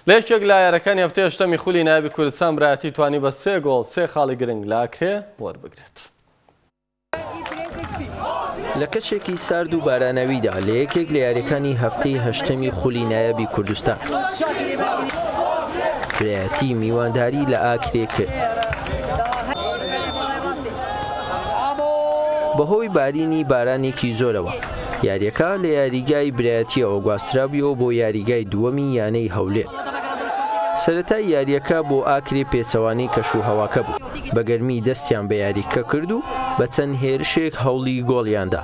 لە یەکێک لە یاریەکانی هەفتەی هەشتەمی خولی نایابی کوردستان برایەتی توانی بە سێ گۆڵ سێ خاڵی گرنگ لە ئاکرێ وەربگرێت. لە کەشێکی سارد و باراناویدا لە یەکێک لە یاریەکانی هەفتەی هەشتەمی خولی نایابی کوردستان برایەتی میوانداری لە ئاکرێ کرد. بەهۆی بارینی بارانێکی زۆرەوە یارییەکە لە یاریگای برایەتییەوە گواسترابوویەوە بۆ یاریگای دووەمی یانەی هەولێر. سەرەتای یارییەکە بۆ ئاکرێ پێچەوانەی کەشوهەواکە بوو، بە گەرمی دەستیان بە یاریکە کرد و بە چەند هێرشێک هەوڵی گۆڵیان دا،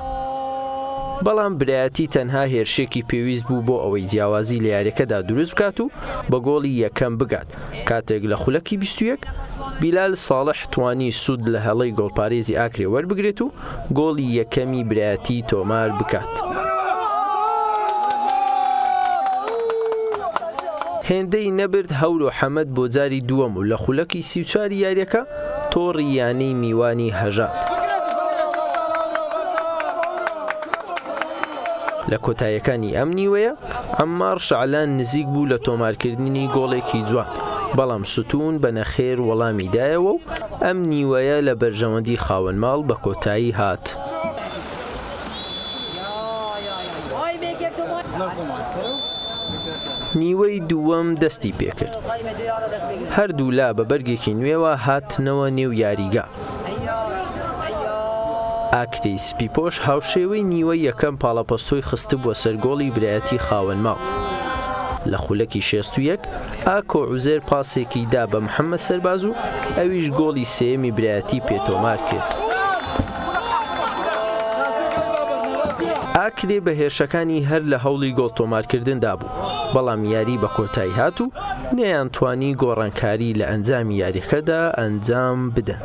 بەڵام برایەتی تەنها هێرشێکی پێویست بوو بۆ ئەوەی جیاوازی لە یارییەکەدا دروست بکات و بە گۆڵی یەکەم بگات، کاتێک لە خولەکی بیست و یەک بیلال ساڵح توانی سوود لە هەڵەی گۆڵپارێزی ئاکرێ وەربگرێت و گۆڵی یەکەمی برایەتی تۆمار بکات. هێندەی نەبرد هەورۆ حەمەد بۆ جاری دووەم و لە خولەکی سی و چواری یاریەکە تۆڕی یانەی میوانی هەژاند. لە کۆتایەکانی ئەم نیوەیە ئەمماڕ شەعلان نزیک بوو لە تۆمارکردنی گۆڵێکی جوان بەڵام ستوون بە نەخێر وەڵامی دایەوە و ئەم نیوەیە لە بەرژەوەندی خاوەن ماڵ بە کۆتایی هات. نیوەی دووەم دەستی پێکرد هەردوو لا بە بەرگێکی نوێوە هاتنەوە نێو یاریگا ئاکری سپیپۆش هاوشێوەی نیوە یەکەم پاڵەپەستۆی خستبووە سەرگۆڵی برایەتی خاوەنماڵ لە خولەکی شێست و یەک ئاکۆ عوزێر پاسێکی دا بە محەممەد سەرباز و ئەویش گۆڵی سێیەمی برایەتی پێتۆمار کرد. ئاکرێ بە هێرشەکانی هەر لە هەوڵی گۆڵ تۆمارکردندا بوو بەڵام یاری بە کۆتایی هات و نەیان توانی گۆڕانکاری لە ئەنجامی یاریەکەدا ئەنجام بدەن.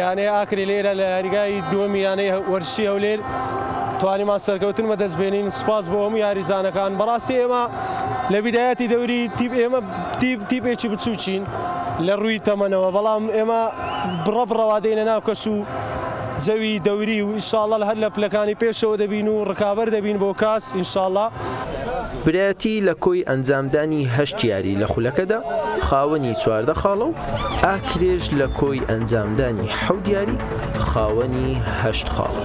یانەی ئاکرێ لێرە لە یاریگای دووەمی یانەی وەرزشی هەولێر توانیمان سەرکەوتن بەدەست بێنین سوپاس بۆ هەموو یاریزانەکان بەڕاستی ئێمە لە بیدایەتی دەوری تیپ ئێمە تیپێکی بچووکین لە ڕووی تەمەنەوە بەڵام ئێمە بڕە بڕەوا دێنە ناو کەش و جەوی دەوری و ئیشاڵە هەر لە پلەکانی پێشەوە دەبین و ڕکابەر دەبین بۆ کاس ئینشاڵە. برایەتی لە کۆی ئەنجامدانی هەشت یاری لە خولەکەدا خاوەنی چواردە خاڵە و ئاکرێش لە کۆی ئەنجامدانی حەوت یاری خاوەنی هەشت خاڵە.